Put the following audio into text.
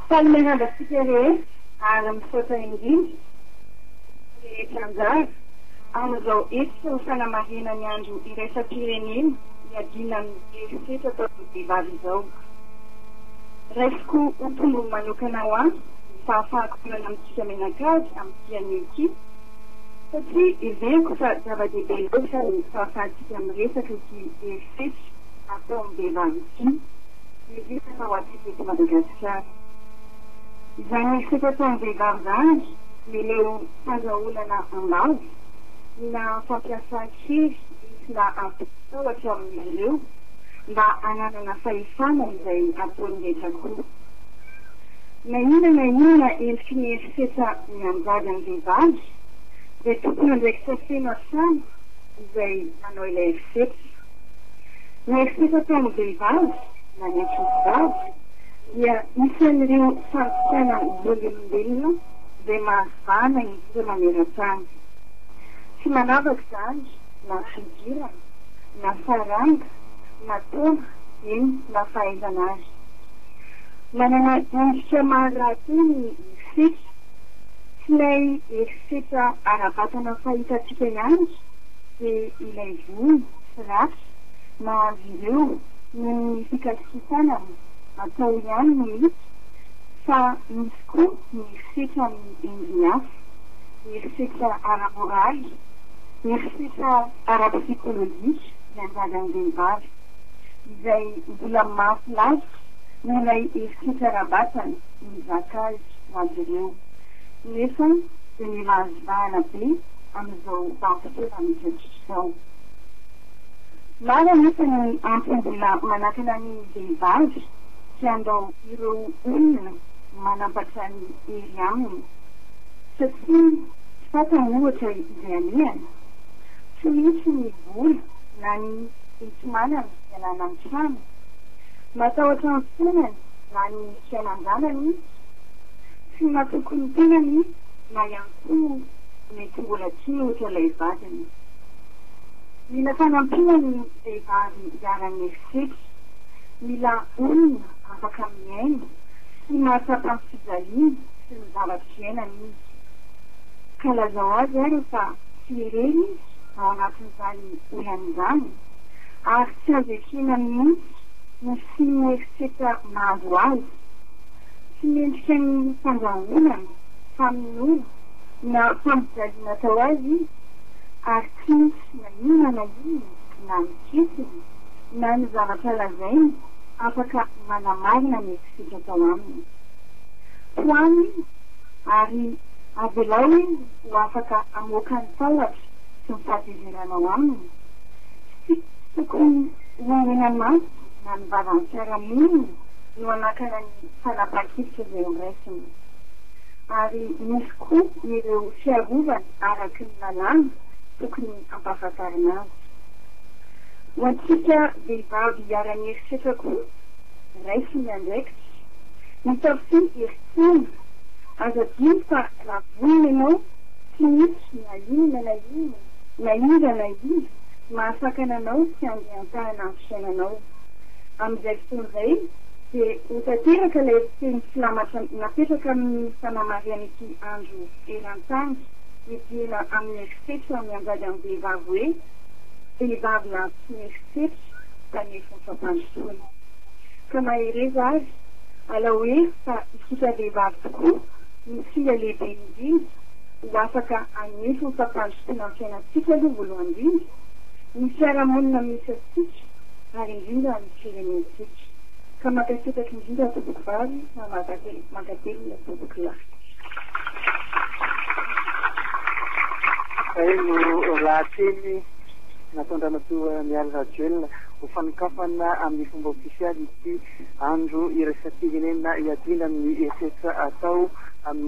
Salome Randratsika rehetra ary misaotra indrindra ny mpanao hetsika rehetra anjara amin'izao hetsika ho fanamarihana ny andro iraisam-pirenena hiadiana amin'ny herisetra ataon'ny vehivavy izao. Raisiko ho tombony manokana ho ahy ny fahafahako manana amintsika mianakavy amin'ity anio ity satria heveriko fa zava-dehibe loatra ny fahafahantsika miresaka ity herisetra ity. Fetsy ataon'ny lehilahy ity ny resaka ho antsika eto Madagasikara. Izany resaka ataon'ny vehivavy izany ireo fandrahonana am-bava na fampiasan-kery entina hampitahotra amin'izy ireo mba hananana fahefana izay ataony rehetra koa. Na inona na inona endriky ny herisetra mianjady amin'ny vehivavy dia tompon'andraikitra feno hatrany izay manao ilay erisetra. Ny erisetra ataon'ny vehivavy na ny ankizivavy dia isan'ireo fandikan vololombelona izay mahazàna indrindra maneran-tany. Tsy manavaka izany na fihodirana, na saranga, na taona, eny na fahaizana ary. Manana endrika maro rahateo ny erisetra. Tsy ilay herisetra ara-batana fahitantsika ihany dia ilay vono sy ratsy mahazo ireo noho ny fikasikisànana atao ihany no misy fa misy koa ny herisetra amin'ny endriny hafa, herisetra ara-moraly, herisetra ara-psikolojika iangadan'ny vehivavy, izay mbola mafy lalitra noho ilay herisetra ara-batana mizaka azy ho azy ireo. nefa dia mila azy vahana be amin'izao vanim-potoana mitriatrika izao. Maro anefa ny antony mbola manakana ny vehivavy tsy handao ireo olona manampatra ny hery aminy, satria tsy fantany ohatra izay alehany, tsy misy ny vola na ny enti-manana hialana amin'ny trano, matahotra ny fiainany na ny fiainan-janany izy, tsy matoky ny tenany na ihany koa mety mbola tia ohatra ilay vadiny. Mila fanampiana ny vehivavy hiara-mieritreritra, mila olona afaka mihaino sy mahatsapa ny fijaliany sy ny zavatra iainany izy. Ka lazao azy ary fa tsy irery izy ao anatin'izany olany izany ary tsy azo ekena mihitsy ny tsy mieritreritra mahazo azy. tsy mendrika ny fandrahonana, famonoana na fampijaliana atao azy izy ary tsy misy na inona na inona na ny fihetsiny na ny zavatra lazainy afaka manamarina ny ekisitra atao aminy. Tohano izy ary avelao izy ho afaka hamoaka ny tahotra sy ny fahatezeranao aminy. Tsy tokony ho henan'antoka na ny vavan'ny fiarahamonina no hanakana ny fanapahan-kevitra izay horaisina. Ary misy koa ireo fiarovana araky ny lalàna tokony hampahafantarina azy. Ho antsika vehivavy hiara-mieritreritra koa, raiso ny andraikitra. Mitaofy herin-tsaina. Aza adino fa raha vonona ianao, tsy misy na inona na inona, na iza na iza, mahasakana anao tsy handeha an-tànana amin'ny fiainanao. Amin'izay fotoana izay dia ho tanteraka ilay teny filamatra napetraka amin'ny fanamarihan'ity andro eran-tany hidirana amin'ny herisetra mianjady amin'ny vehivavy hoe, Vehivavy lavitry ny herisetra, Tanefon'ny Fampandrosoana. Ka mahereza ary, alao hery fa isika vehivavy tokoa no singa lehibe indrindra ho afaka hanefo ny fampandrosoana amin'ny fiainantsika aloha voalohany indrindra, ny fiarahamonina misy antsika, ary indrindra amin'ny firenentsika. Ka mankasitraka indrindra tompoko vavy ary mankatelina tompoko lahy. Izay no lahateny nataon-dRamatoa Mialy Rajoelina ho fanokafana amin'ny fomba ofisialy ity andro iraisam-pirenena iadiana amin'ny herisetra atao amin'ny.